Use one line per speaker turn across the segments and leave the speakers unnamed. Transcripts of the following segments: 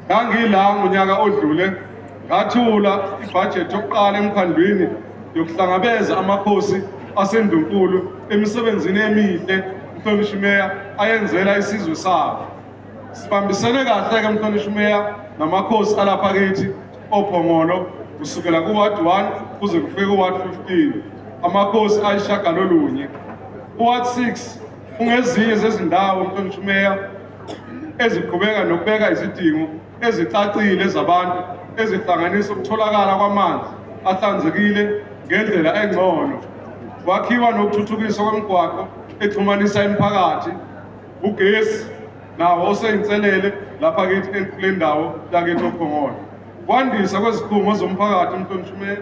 ngangila ngonyaka odlule ngathula ibhajethi yokuqala emkhandlwini yokuhlangabeza amakhosi asendunkulu emisebenzini emihle umhlonishwa imeya ayenzela isizwe sabo sibambisene kahle-ke mhlonishwa imeya namakhosi alapha kithi ophongolo kusukela kuward 1 kuze kufike kuward 15 amakhosi ayishagalolunye kuward 6 Kungezinye zezindawo mhlonishwa uMeya eziqhubeka nokubeka izidingo ezicacile zabantu ezihlanganisa ukutholakala kwamanzi ahlanzekile ngendlela engcono, kwakhiwa nokuthuthukiswa kwemigwaqo exhumanisa imiphakathi, ugesi nawo oseyinselele lapha kithi kule ndawo yakithi oPhongolo, kwandisa kwezikhungo zomphakathi mhlonishwa uMeya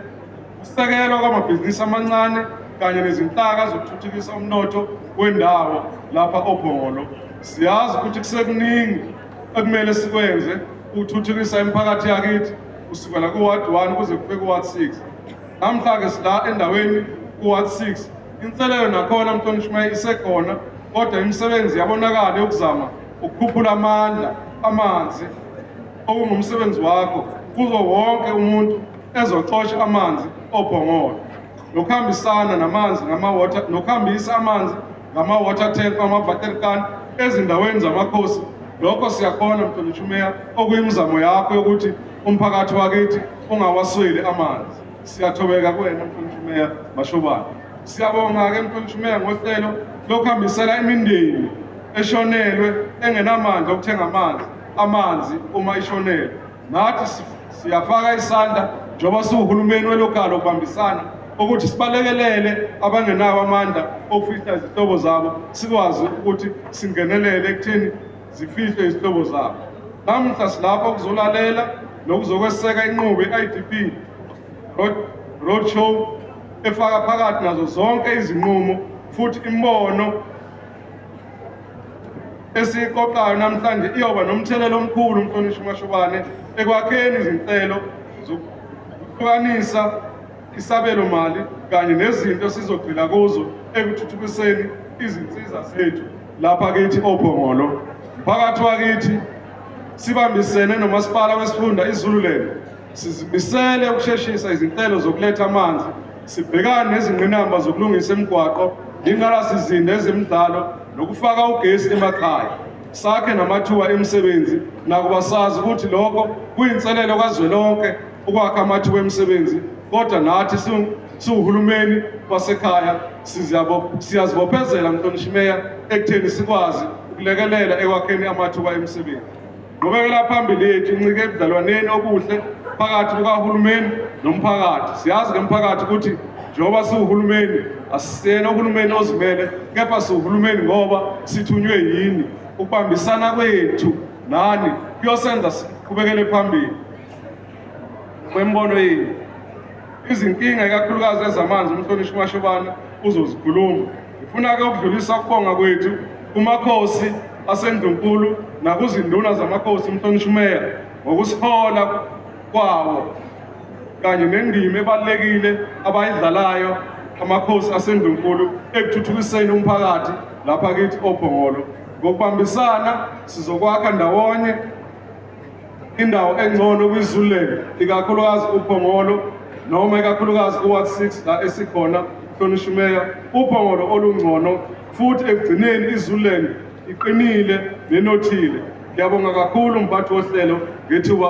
Ukusekelwa kwamabhizinisi amancane kanye nezinhlaka zokuthuthukisa umnotho wendawo lapha oBhongolo. Siyazi ukuthi kusekuningi ekumele sikwenze ukuthuthukisa imiphakathi yakithi kusukela ku-ward 1 kuze kufike ku-ward 6 namhla-ke sila endaweni ku-ward 6 inselelo nakhona mhlonishimeye isekhona kodwa imisebenzi yabonakala yokuzama ukukhuphula amandla amanzi okungumsebenzi wakho kuzo wonke umuntu ezocosha amanzi obhongolo nokuhambisana namanzi ngama-water nokuhambisa amanzi ngama-water tank ama-water can ezindaweni zamakhosi lokho siyakhona mhlonishwa umeya okuyimizamo yakho yokuthi umphakathi wakithi ungawasweli amanzi siyathobeka kuwena mhlonishwa umeya mashobane siyabonga-ke mhlonishwa umeya ngohlelo lokuhambisela imindeni eshonelwe engenamandla okuthenga amanzi amanzi uma ishonelwe Nathi siyafaka isandla njengoba siwuhulumeni welokalo ukubambisana ukuthi sibalekelele abangenawo amandla okufihla izihlobo zabo sikwazi ukuthi singenelele ekutheni zifihlwe izihlobo zabo namuhla silapha ukuzolalela nokuzokweseka inqubo i-idp road show efaka phakathi nazo zonke izinqumo futhi imbono esiyiqoqayo namhlanje iyoba nomthelela omkhulu umhlonishwa uMashobane ekwakheni izinhlelo zokuhlukanisa isabelo mali kanye nezinto esizogxila kuzo ekuthuthukiseni izinsiza zethu lapha kithi ophongolo mphakathi wakithi sibambisene nomasipala wesifunda izululand Sizimisele ukusheshisa izinhlelo zokuletha amanzi, sibhekane nezingqinamba zokulungisa imigwaqo, ingqalasizinda ezemidlalo nokufaka ugesi emakhaya. Sakhe namathuba emisebenzi nakuba sazi ukuthi lokho kuyinselelo kazwelonke ukwakha amathuba emisebenzi kodwa nathi siwuhulumeni wasekhaya siyazibophezela mhlonishimea ekutheni sikwazi ukulekelela ekwakheni amathuba emisebenzi. Qhubekela phambili yethu incike ebudlalwaneni obuhle phakathi kukahulumeni nomphakathi. Siyazi ngemphakathi ukuthi njengoba siwuhulumeni asisiyena uhulumeni ozimele kepha siwuhulumeni ngoba sithunywe yini. Ukubambisana kwethu nani kuyosenza siqhubekele phambili kwembono yethu. Izinkinga ikakhulukazi ezamanzi umhlonishwa uMashobane uzozikhuluma. Ngifuna-ke ukudlulisa ukubonga kwethu kumakhosi aseNdlunkulu nakuzinduna zamakhosi umhlonishwa umeya ngokusihola kwawo kanye nendima ebalulekile abayidlalayo amakhosi aseNdlunkulu ekuthuthukiseni umphakathi lapha kithi oBhongolo. Ngokubambisana sizokwakha ndawonye indawo engcono kwiZululand ikakhulukazi uPhongolo noma ikakhulukazi uWard 6 la esikhona hlonishwa umeya uPhongolo olungcono futhi ekugcineni iZululand iqinile nenothile ngiyabonga kakhulu mphathi wohlelo ngethuba